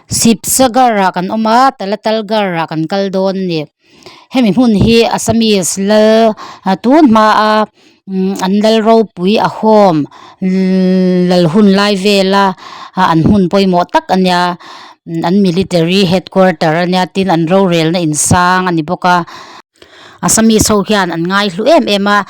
sipsa gar ah kan awm a talatal gar ah kan kal dawn a ni hemi hmun hi assamese lal tun hma a umm an lal ropui a hawm lal hun lai vel a an hmun pawimawh tak a nia an military headquarter a nia tin an rorel na in sang a ni bawk a. Assamese ho hian an ngai hlu em em a,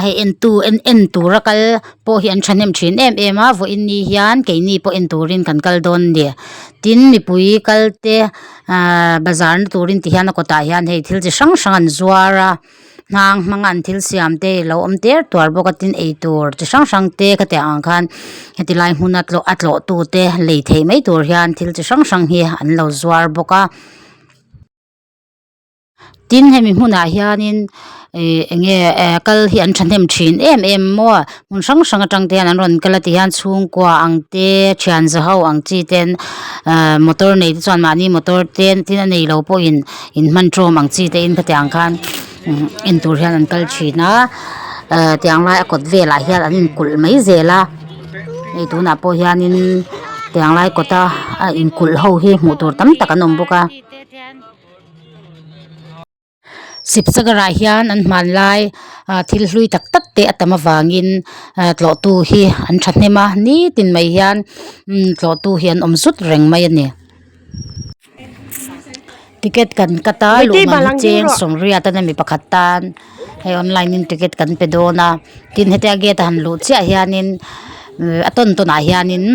hei entu en en tura kal pawh hi an thahnem thin em em a, vawiin ni hian keini pawh en turin kan kal dawn a ni. Tin mipui kalte aaa bazar na turin ti hian a kawtah hian hei thil chi hrang hrang an zuar a, nghang hmanga an thil siam te hi a lo awm ter tuar bawk a, tin eitur chi hrang hrang te ka tih ang khan heti lai hmun a tlawh a tlawh tute lei thei mai tur hian thil chi hrang hrang hi an lo zuar bawk a. tin hemi hmunah hianin ihh eng nge ehh kal hi an thahnem thin em em maw hmun hrang hrang atang te hian an rawn kal a tihian chhungkua ang te thianza ho ang chi ten ahh motor nei te chuan mahni motor te tin a neilo pawhin in hman tawm ang chi te in kha tiang khan umm en tur hian an kal thin a ahh tiang lai a kawt velah hian an in kulh mai zel a hei tunah pawh hianin tiang lai kawta a in kulh ho hi hmuh tur tam tak an awm bawk a. Sipsagara hian an hmanlai thil hlui tak tak te a tam avangin tlawhtu hi an thahnem a nitin mai hian tlawhtu hi an awm zut reng mai a ni ticket kan cut a luhmahna cheng sawmriata na mi pakhat tan hei online in ticket kan pe dawn a tin heti a gate a han luh chiah hianin a tawn tawn ah hianin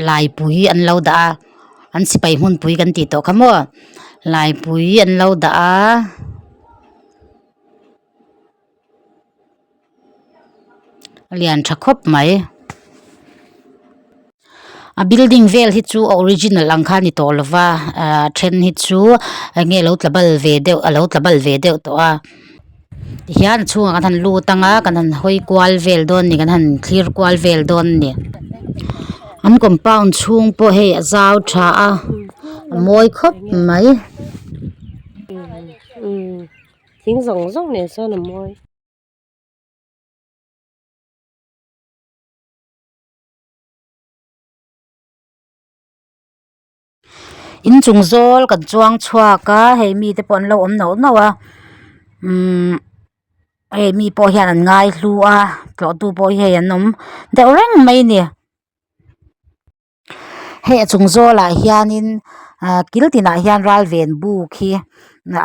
laipui an lo dah a. an sipai hmunpui kan tih tawh kha maw laipui an lo dah a a lian tha khawp mai a building vel hi chu a original ang kha a ni tawh lo va a a then hi chu enge a lo tla bal ve deuh a lo tla bal ve deuh tawh a. tihian chhunga kan han lut ang a kan han hawi kual vel dawn a ni kan han thlir kual vel dawn a ni an compound chhung pawh hei a zau tha a a mawi khawp mai thing zawng zawng nen chuan a mawi. inchung zawl kan chuang chhuak a hei mi te pawh an lo awm noh noh a umm hei mi pawh hian an ngai hlu a tlawhtu pawh hei an awm deuh reng mai a ni hei a chung zawl ah hianin ah kil tin ah hian ral ven buk hi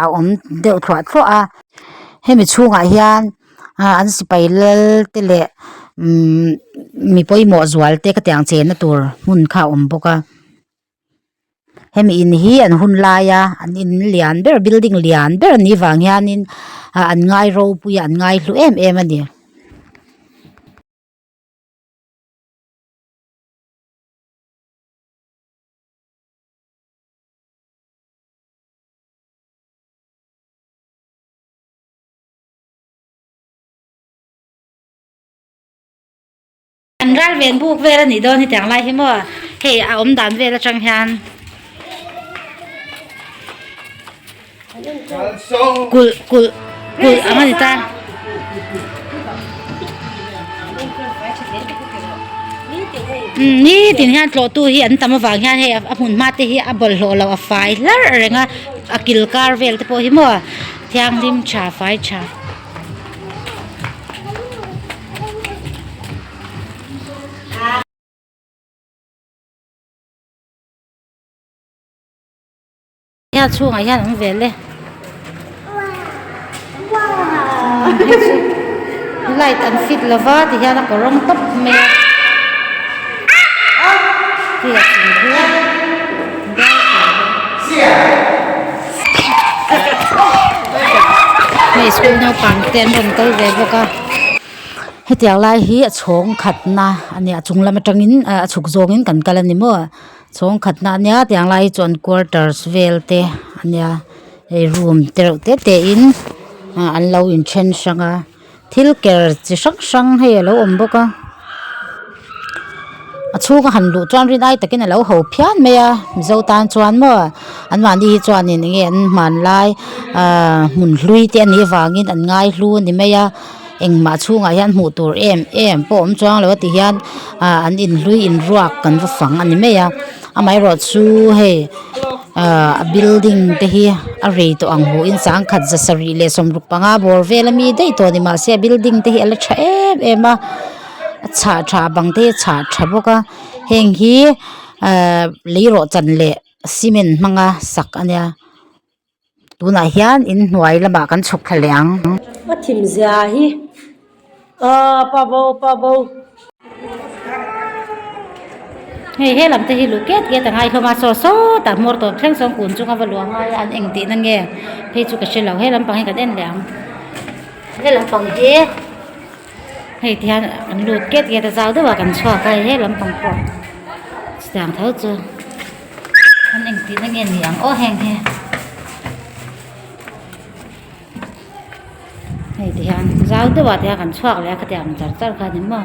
a awm deuh thluah thluah a hemi chhung ah hian ah an sipai lal te leh umm mi pawimawh zual te ka tiang chenna tur hmun kha a awm bawk a. hemi in hi an hun lai a an in lian ber building lian ber an nih vang hianin ah an ngai ropui a an ngai hlu em em a ni. Kan ral ven buk vel a nih dawn hetiang lai hi maw? Hei a awm dan vel atang hian kulh kulh kulh ang a ni ta. Ni tin hian tlawh tu hi an tam avang hian hei a hmun hma te hi a bawlh hlawh lo a fai hlar a reng a a kilkar vel te pawh hi maw? Thianghlim tha fai tha. Hea chhungah hian ang vel le. Light an fit lova ti hian a ko rawng tawp mai a. Hei a chung chu. hei school naupang te an rawn kal ve bawk a hetiang lai hi a chhawng khat na a ni a chung lam atang in a chhuk zawng in kan kal a ni maw chhawng khat na a nia a tiang lai hi chuan quarters vel te a nia hei room te reuh te te in an lo in ṭhen hrang a. Thil ker chi hrang hrang hei a lo awm bawk a a chhung a han luh chuan rin ai takin a lo ho phian mai a Mizo tan chuan maw an mahni hi chuan in eng nge an hmanlai aaa hmun hlui te a nih avangin an ngaihlu a ni mai a engmah chhungah hian hmuh tur em em pawh awm chuang lo a tihian aaa an inhlui inruak kan va fang a ni mai a. Amaherawhchu chu hei ahh a building te hi a rei tawh ang hu in chang khat za sarih leh sawmruk panga bawr vel ami daih tawh ani mahse a building te hi a la tha em em a a chhah tha a bang te hi a chhah tha bawk a heng hi ahh lei rawh chan leh cement hmanga sak a nia. tunah hian in hnuai lamah kan chhuk thla leh ang. A thimzia hi aaa pavo pavo. Hei he lam te hi luh kiat kiat anga i hlawma sawt sawt a hmawr tawp thleng sawn kun chunga va luh a ngai a an eng tihna nge phei chu ka hre lo he lampang hi kan en leh ang he lampang hi. Hei ti hian an lut kiat kiat a zau deuh a kan chhuak a he lam pang pawh chutiang tho chu an en tihna nge ni ang aw heng hi hei ti hian zau deuh a ti hian kan chhuak leh a khatiang ang char char kha ni maw.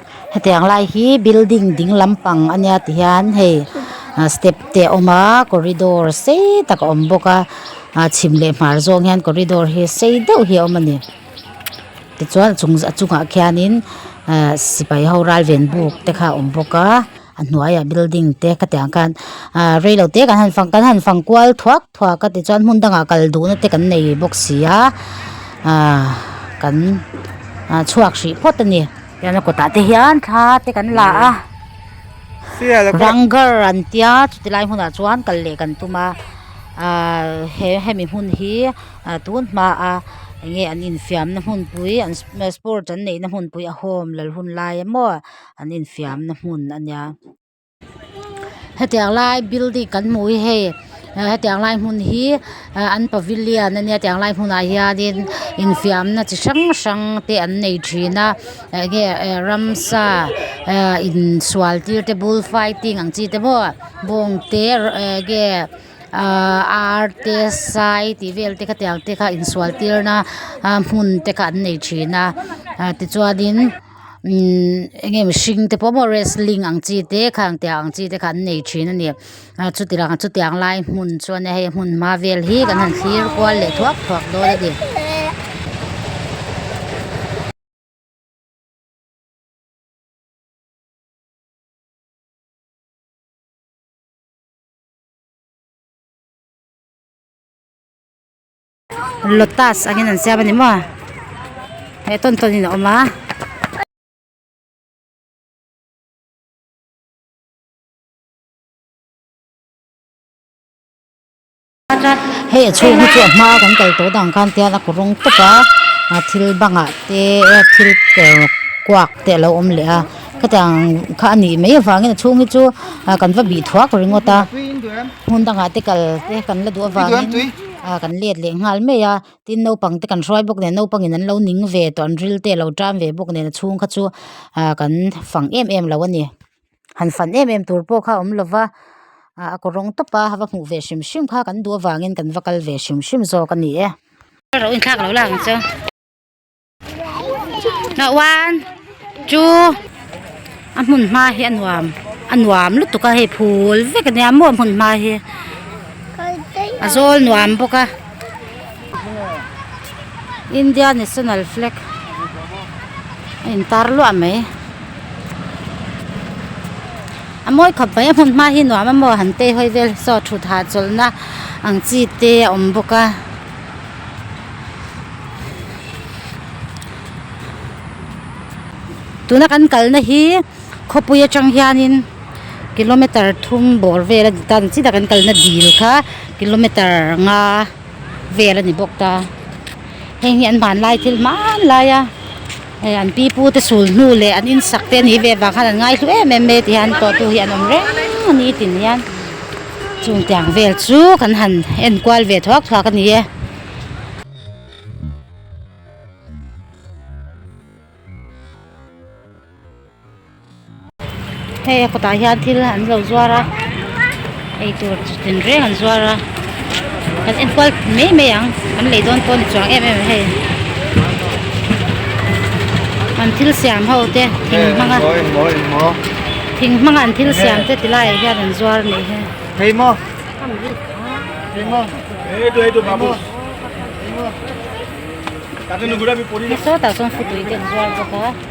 heti ang lai hi building ding lampang a nia ti hian hei ah step te a awm a corridor sei tak a awm bawk a ah chhim leh hmar zawng hian corridor hi sei deuh hi a awm a ni tichuan a chung a chungah khianin ah sipai ho ral ven buk te kha a awm bawk a a hnuaiah building te ka tiang khan ah reilote kan han fang kan han fang kual thuak. Thua ka ti chuan hmun dangah kal duhna te kan nei bawk si a, aah kan chhuak hrih phawt a ni. Tunah kawtah te hian thla te kan la a, Ranggar an tia, chuti lai hmunah chuan kal leh kan tum a, aah hemi hmun hi tunhmaah eng nge an infiamna hmunpui an sport an neihna hmunpui a hawm lal hun lai emaw an infiamna hmun a nia. hetiang lai building kan hmuh hi hei hetiang lai hmun hi ah an pavilion a nia hetiang lai hmunah hianin infiamna chi hrang hrang te an nei thin a eng nge eh ramsa ah insual tir te bull fighting ang chi te maw bawng te eh nge ah ar te sai tih vel te khatiang te kha insual tirna ah hmun te kha an nei thin a ah tichuanin-- imm enge mihring te pawh maw wrestling ang chi te khang tia ang chi te kha an nei thin a ni a chuti rak chuti ang lai hmun chuan hei hmun hma vel hi kan han thlir kual leh thuak thuak dawn a ni. lotus angin an siam a ni maw he tawn tawn in a awm a. Hei a chhung hi chu a hma a kan tel tawh dan khan tial a kut rawng tawp a ah thil bangah te thil ker kuak te a lo awm leh a khatiang kha a nih mai avangin a chhung hi chu ah kan va bih thuak ringawt a hmun dangah te kal te kan la duh avangin-- a kan let leh nghal mai a tin naupang te kan hruai bawk nen naupang in an lo ning ve tawh an ril te a lo tan ve bawk nen a chhung kha chu ah kan fang em em lo a ni han fan em em tur pawh kha awm lo va ah a kawr rawng tawp a va hmuh ve hrim hrim kha kan duh avangin kan va kal ve hrim hrim zawk a ni e. Hnah wan chu a hmun hma hi a nuam a nuam lutuk a hei phul vek a nia maw a hmun hma hi a zawl nuam bawk a India national flag a in tar luah mai a mawi khawp mai a hmun hma hi nuam a maw han tei hawi vel saw thut hah chawlhna ang chi te a awm bawk a. Tuna kan kalna hi khawpui atang hianin kilometer thum bawr vel a ni ta ang chiah takah hian kalna dil kha kilometer nga vel a ni bawk ta heng hi an hmanlai thil hmanlaia. Hei an pi pu te sul hnu leh an in sak te a nih ve vang khan an ngai hlu em em mai tih hian pawh tu hi an awm reng a ni tin hian chung tiang vel chu kan han en kual ve thuak thuak a ni e. Hei a kawtah hian thil an lo zuar a ei tur chin reng an zuar a kan enkual mai mai ang an lei dawn pawh a ni chuang em em ang hei an thil siam ho te thing hmanga thing hmanga an thil siam te ti laiah hian an zuar a nih hi. Sawtah chuan futui te an zuar bawk a.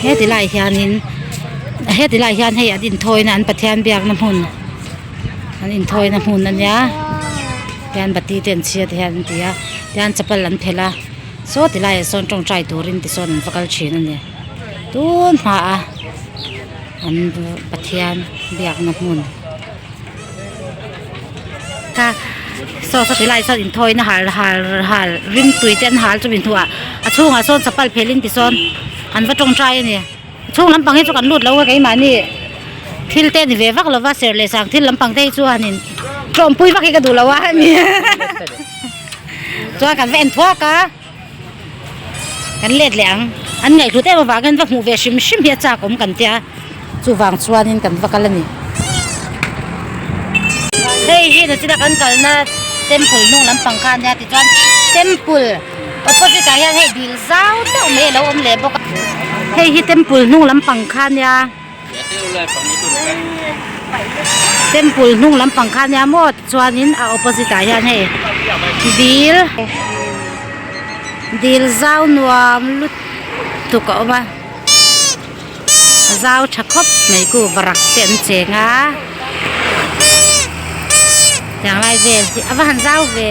Hetilai hianin hetilai hian hei an inthawiin a an pathian biakna hmun an inthawiin a hmun a nia tian bati te an chhia tih hian an ti a tian chapal an phelh a saw tilaiah sawn tawngtai turin tisawn an va kal thin a ni. tun hna a an pathian biakna hmun ka saw ka ti lai sawn in thawiin a har har har rim tui te an har chu min hmu a a chhungah sawn chapal phelh in ti sawn an va tawng tai a ni chhung lampang hi chu kan lut lo a keimahni thil te a ni ve vak lo va serh leh sang thil lampang te hi chuan in tlawmpui vak hi ka duh lo a ni chuan kan va en thuak a. Kan let leh ang. An ngaihhlut em avang hian va hmuh ve hrim hrim hi a chak awm kan tia, chuvang chuanin kan va kal a ni. Hei hi Nutila kan kalna temple hnung lampang kha a nia tichuan temple opposite ah hian hei dil zau deuh mai a lo awm leh bawk a. Hei hi temple hnung lampang kha a nia. Temple hnung lampang kha nia maw tichuanin a opposite ah hian hei dil dil zau nuam lutuk a awm a zau tha khawp mai ku varak te an cheng a chang lai vel hi a va han zau ve.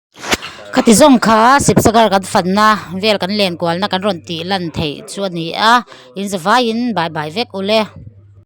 khati zawng kha sipsakar kan fanna vel kan len kual na kan rawn tih lan theih chu a ni a inzawvaiin bye bye vek ule.